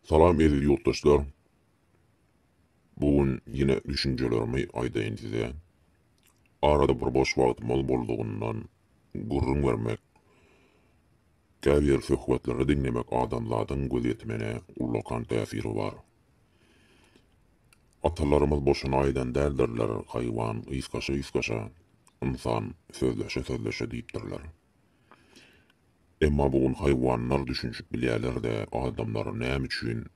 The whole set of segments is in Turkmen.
Salam eziz ýurtdaşlar. Bu gün ýene düşünjelerimi aýdaýyn size. Arada bir boş wagtymyz boldugyndan gürrüň bermek, käbir söhbetleri diňlemek adamzadyň gözýetimine ullakan täsiri bar. Atalarymyz boşuna aýdan däldirler, Haýwan ysgaşa-ysgaşa, ynsan sözleşe-sözleşe diýipdirler. Emma bu gün haýwanlar düşünişip bilýärler-de, adamlar näme üçin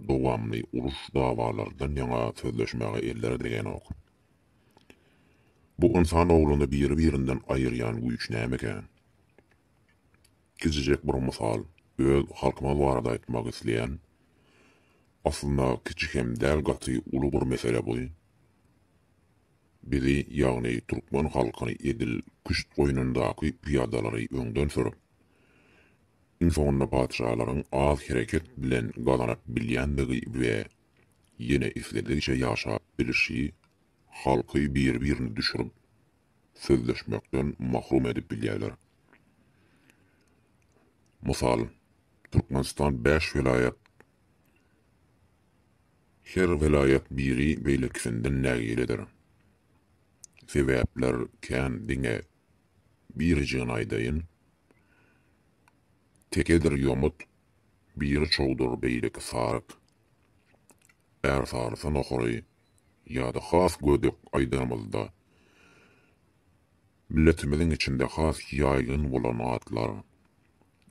dowamly uruş-dawalardan ýaňa sözleşmäge elleri degänok? Bu ynsan ogluny biri-birinden aýyrýan güýç nämeka? Kiçijek bir mysal, öz halkymyz barada aýtmak isleýän, aslynda kiçi hem däl gaty uly bir mesele bu. Bizi, ýagny türkmen halkyny edil küşt goýnundaky pyýadalary öňden sürüp, iň soňunda patyşalaryň az hereket bilen gazanyp bilýändigi we ýene isledigiçe ýaşap bilişi, halky bir-birini düşürip, sözleşmekden mahrum edip bilýärler. Mysal, Türkmenistan bäş welaýat, Her welaýat biri beýlekisinden nägiledir. Sebäpler kän diňe birijigini aýdaýyn. Tekedir ýomut, biri çowdur beýleki saryk. Ärsarysa nohary ýa-da has gödek aýdanymyzda Milletimiziň içinde has ýaýgyn bolan atlar,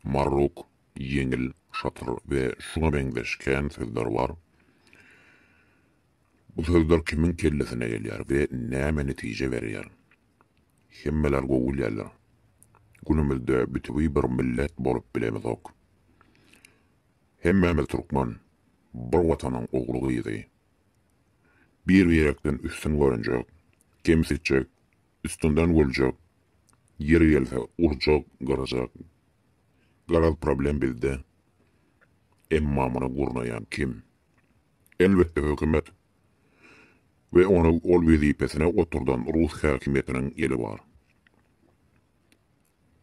marruk, ýeňil, şatyr we şuňa meňzeş kän sözler bar. Bu sözler kimiň kellesine gelýär we näme netije berýär? Hemmeler gowy bilýärler. Günümizde bütewi bir millet bolup bilemizok. Hemmämiz türkmen, bir Watanyň ogly-gyzy. Bir-birekden üstün görünjek, kemsitjek, Üstünden güljek, ýeri gelse urjak, gyrjak. Garaz problem bizde. Emma muny gurnaýan kim? Elbetde hökümet we ony ol wezipesine oturdan rus häkimiýetiniň eli bar.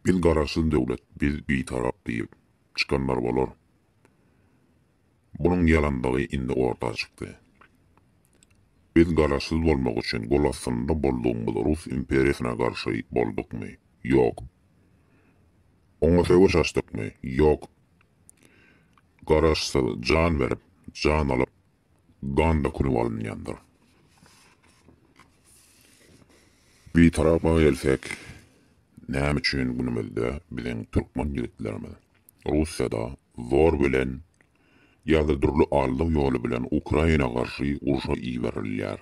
Biz garaşsyz döwlet, biz bitarap diýip çykanlar bolar. Bunuň ýalandygy indi orta çykdy. Biz garaşsyz bolmak üçin gol astynda boldugymyz rus imperiýasyna garşy boldukmy? Ýok. Oňa söweş açdykmy? Ýok. Garaşsyz jan berip, jan alyp, gan dökülip alynýandyr. Bitarapa gelsek, näme üçin günümizde biziň türkmen ýigitlerimiz Russiýada zor bilen ýa-da dürli aldaw ýoly bilen Ukraina garşy urşa iberilýär.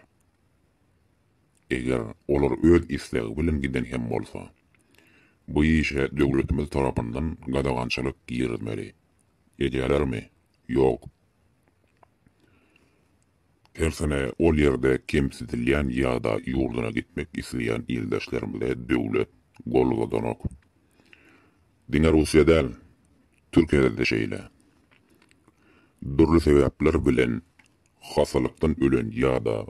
Eger olar öz islegi bilen giden hem bolsa, bu işe döwletimiz tarapyndan gadagançylyk girizmeli. Edýälermi? Ýok. Tersine ol ýerde kemsidilýän ýa-da ýurduna gitmek isleýän ildeşlerimize döwlet gol uzadanok. Diňe Russiýa däl, Türkiýede-de şeýle. Dürli sebäpler bilen hassalykdan ölen ýa-da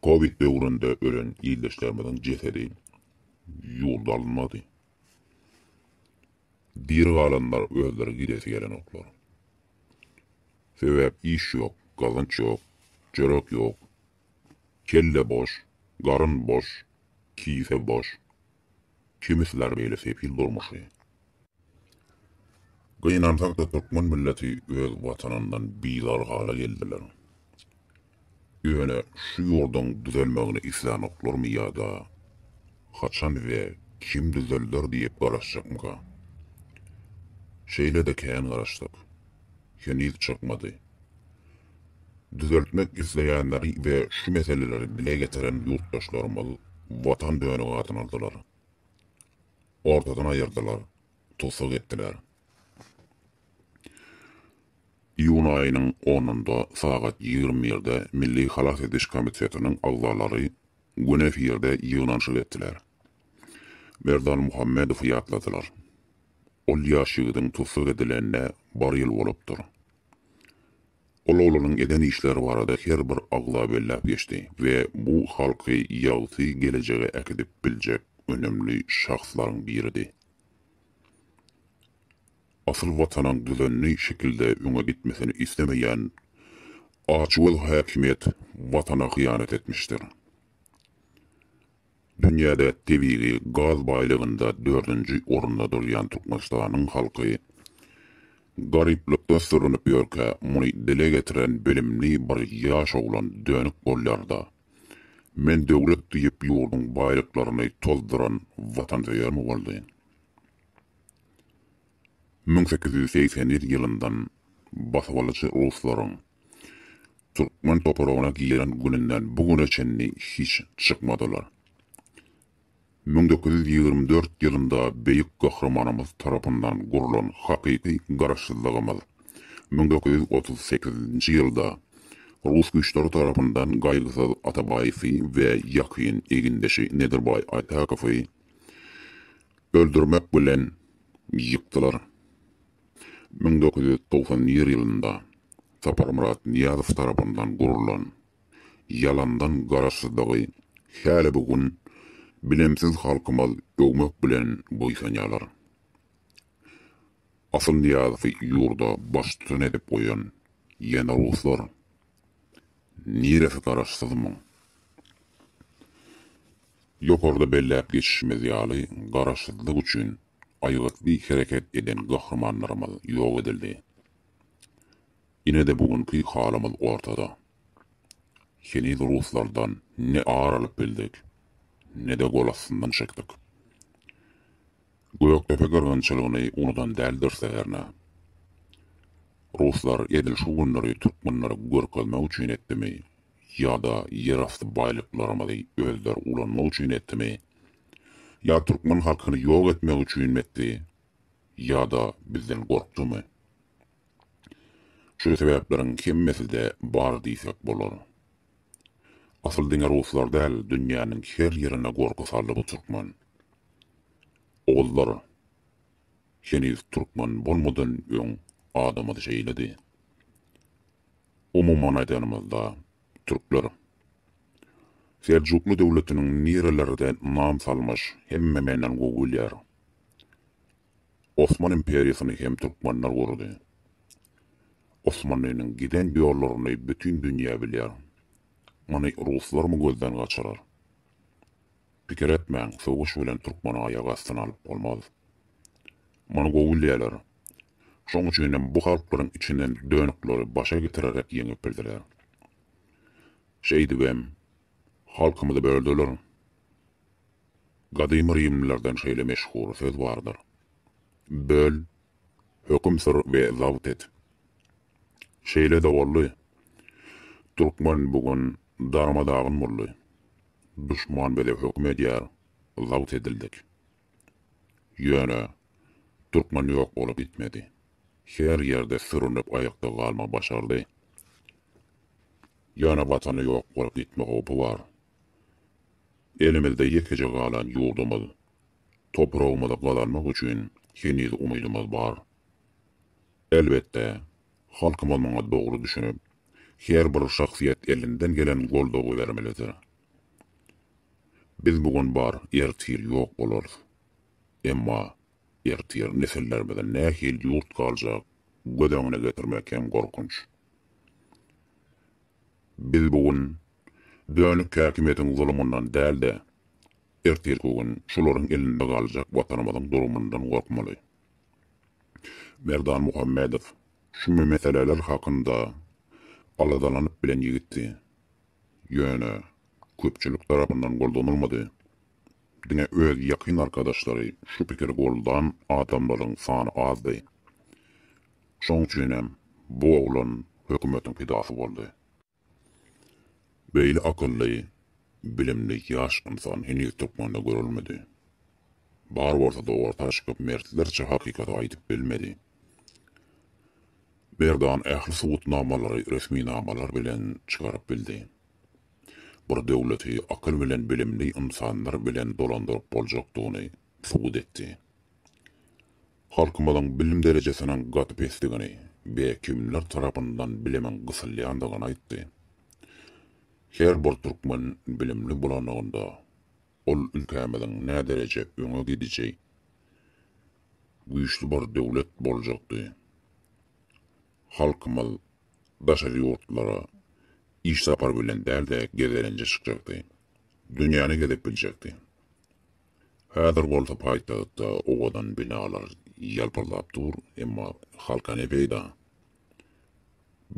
covid döwründe ölen ildeşlerimiziň jesedi ýurda alynmady. Diri galanlar özleri gidesi gelenoklar. Sebäp iş ýok, gazanç ýok, çörek ýok. Kelle boş, garyn boş, kise boş. Kimi siler beýle sefil durmuşy. Gynansakda türkmen milleti öz watanyndan bizar hala geldiler. Ýöne şu ýurduň düzelmegini islänoklarmy ýa-da haçan we kim düzelder diýip garaşjakmyka? Şeýle-de kän garaşdyk. Heniz çykmady. Düzeltmek isleýänleri we şu meseleleri dile getiren ýurtdaşlarymyz Watan dönügi adyny aldylar. Ortadan aýyrdylar, tussag etdiler. Iýun aýynyň onunda sagat ýigrimi birde Milli halas ediş komitetiniň agzalary gün efirde ýygnanyşyk etdiler. Merdan Muhammedowy ýatladylar. Ol ýaş ýigidiň tussag edilenine bir ýyl bolupdyr. Ol oglanyň eden işleri barada her bir agza belläp geçdi we bu halky ýagty gelejege äkidip biljek önemli şahslaryň biridi. Asyl Watanyň düzenli şekilde öňe gitmesini islemeýän açgöz häkimiýet Watana hyýanat etmişdir. Dünýäde tebigy gaz baýlygynda dördünji orunda durýan Türkmenistanyň halky garyplykda sürünip ýörkä, muny dile getiren bilimli bir ýaş oglan dönük bolýar-da, Men döwlet diýip ýurduň baýlyklaryny tozduran watansöýermi boldy? Müň sekiz ýüz segsen ýedinji ýylyndan basybalyjy ruslaryň türkmen topragyna giren gününden bu güne çenli hiç çykmadylar. Müň dokuz ýüz ýigrimi dört ýylynda Beýik Gahrymanymyz tarapyndan gurlan hakyky Garaşsyzlygymyz müň dokuz ýüz otuz sekizinji ýylda rus güýçleri tarapyndan Gaýgysyz Atabaýewi we ýakyn egindeşi Nedirbaý Aýtakowy öldürmek bilen ýykdylar. Müň dokuz ýüz togsan nji ýylynda Saparmyrat Nyýazow tarapyndan gurlan ýalandan Garaşsyzlygy häli bu gün bilimsiz halkymyz öwmek bilen buýsanýarlar. Asyl Nyýazowy ýurda baştutan edip goýan ýene ruslar. Niresi Garaşsyzmyň? Ýokarda belläp geçişimiz ýaly Garaşsyzlyk üçin aýgytly hereket eden gahrymanlarymyz ýok edildi. Ine-de bu günki halymyz ortada. Heniz ruslardan ne ar alyp bildik, ne-de gol astyndan çekdik. Gökdepe gyrgynçylygyny unudan däldiris-de hernä. Ruslar edil şu günleri türkmenlere görkezmek üçin etdimi ýa-da ýerasty baýlyklarymyzy özleri ulanmak üçin etdimi, Ýa türkmen halkyny ýok etmek üçinmi etdi, ýa-da bizden gorkdumy? Şu sebäpleriň hemmesi-de bar diýsek bolar. Asyl diňe ruslar däl, dünýäniň her ýerine gorky saldy bu türkmen. Ogullar, heniz türkmen bolmadan öň adamyz şeýledi. Umuman aýdanymyzda, türkler. Seljukly döwletiniň nirelerde nam salmyş hemme menden gowy bilýär. Osman imperiýasyny hem türkmenler gurdy. Osmanlynyň giden ýollaryny bütin dünýä bilýär. Muny ruslarmy gözden gaçyrar. Pikir etmäň söweş bilen türkmeni aýak astyna alyp bolmaz. Muny gowy bilýärler. Şoň üçinem bu halklaryň içinden dönükleri başa getirerek ýeňip bildiler. Şeýdibem, halkymyzy böldüler. Gadymy rimlilerden şeýle meşhur söz bardyr, Böl, höküm sür we zabt et. Şeýle-de boldy. Türkmen bu gün darma-dagyn boldy. Duşman bize höküm edýär, zabt edildik. Ýöne, türkmen ýok bolup gitmedi. Her ýerde sürünip aýakda galma başardy. Ýöne Watany ýok bolup gitme howpy bar. Elimizde ýekeje galan ýurdumyz, topragymyzy gazanmak üçin heniz umydymyz bar. Elbetde, halkymyz muňa dogry düşünip, her bir şahsyýet elinden gelen goldawy bermelidir. Biz bu gün bar, ertir ýok bolarys. Emma ertir nesillerimize nähili ýurt galjak göz öňüne getirmek hem gorkunç. Biz bu gün dönük häkimiýetiň zulumyndan däl-de, ertirki gün şularyň elinde galjak Watanymyzyň durumyndan gorkmaly. Merdan Muhammedow şu meseleler hakynda aladalanyp bilen ýigitdi. Ýöne köpçülik tarapyndan goldanylmady. Diňe öz ýakyn arkadaşlary şu pikiri goldan adamlaryň sany azdy. Şoň üçin hem bu oglan hökümetiň pidasy boldy. Beýle akylly, bilimli ýaş ynsan heniz türkmende görülmedi. Bar bolsa-da orta çykyp mertlerçe hakykaty aýdyp bilmedi. Merdan ähli subutnamalary resminamalar bilen çykaryp bildi. Bir döwleti akyl bilen bilimli ynsanlar bilen dolandyryp boljakdygyny subut etdi. Halkymyzyň bilim derejesiniň gaty pesdigini we kimler tarapyndan bilimiň gysylýandygyny aýtdy. Her bir türkmen bilimli bolanlygynda Ol ülkämiziň nädereje öňe gidiji, güýçli bir döwlet boljakdy. Halkymyz daşary ýurtlara iş sapary bilen däl-de gezelenje çykjakdy. Dünýäni gezip biljekdi. Häzir bolsa paýtagtda owadan binalar ýalpyldap dur, emma halka ne peýda?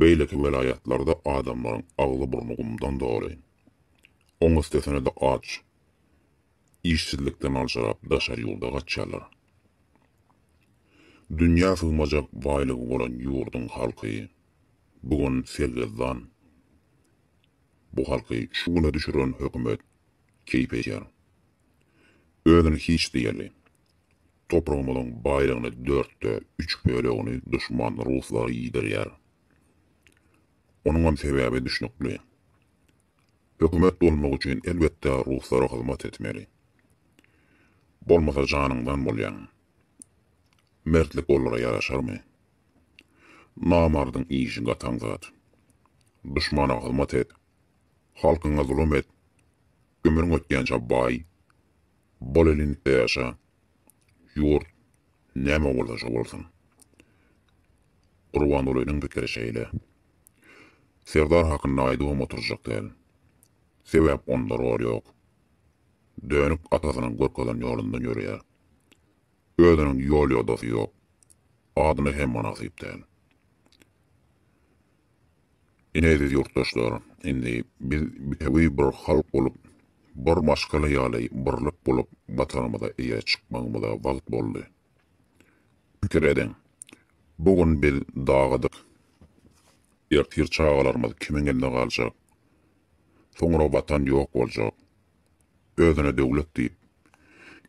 Beýleki welaýatlarda adamlaryň agzy-burny gumdan doly. Oň üstesine-de aç, işsizlikden aljyrap daşary ýurda gaçýarlar. Dünýä sygmajak baýlygy bolan ýurduň halky bu gün sergezdan. Bu halky şu güne düşüren hökümet keýp edýär. Özüni hiç diýerli. Topragymyzyň baýlygyny dörtde üç bölegini duşman ruslara iýdirýär. Onuňam sebäbi düşnükli. Hökümet bolmak üçin elbetde ruslara hyzmat etmeli. Bolmasa janyňdan bolýaň. Mertlik olara ýaraşarmy? Namardyň işi gataň zat. Duşmana hyzmat et, halkyňa zulum et, ömrüň ötýänçä baý, bol elinlikde ýaşa, ýurt näme bolsa şo bolsun. Gurbangulynyň pikiri şeýle. Serdar hakynda aýdybam oturjak däl. Sebäp onda rol ýok. Dönük atasynyň görkezen ýolundan ýöreýär. Özüniň ýol-ýodasy ýok. Adyna hem mynasyp däl. Ine eziz ýurtdaşlar, indi biz bitewi bir halk bolup, bir maşgala ýaly birlik bolup Watanymyza eýe çykmagymyza wagt boldy. Pikir ediň, bu gün biz dagydyk, ertir çagalarymyz kimiň elinde galjak? Soňra Watan ýok boljak. Özüne döwlet diýip,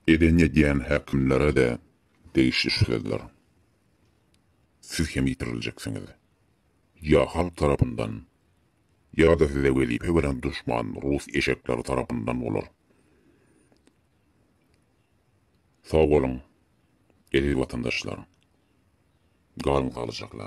eden edýän häkimlere-de degişli şu sözler. Siz hem ýitiriljeksiňiz. ýa halk tarapyndan, ýa-da size wezipe beren duşman rus eşekleri tarapyndan bolar. Sag boluň, eziz watandaşlar! Galyň saglyjakla!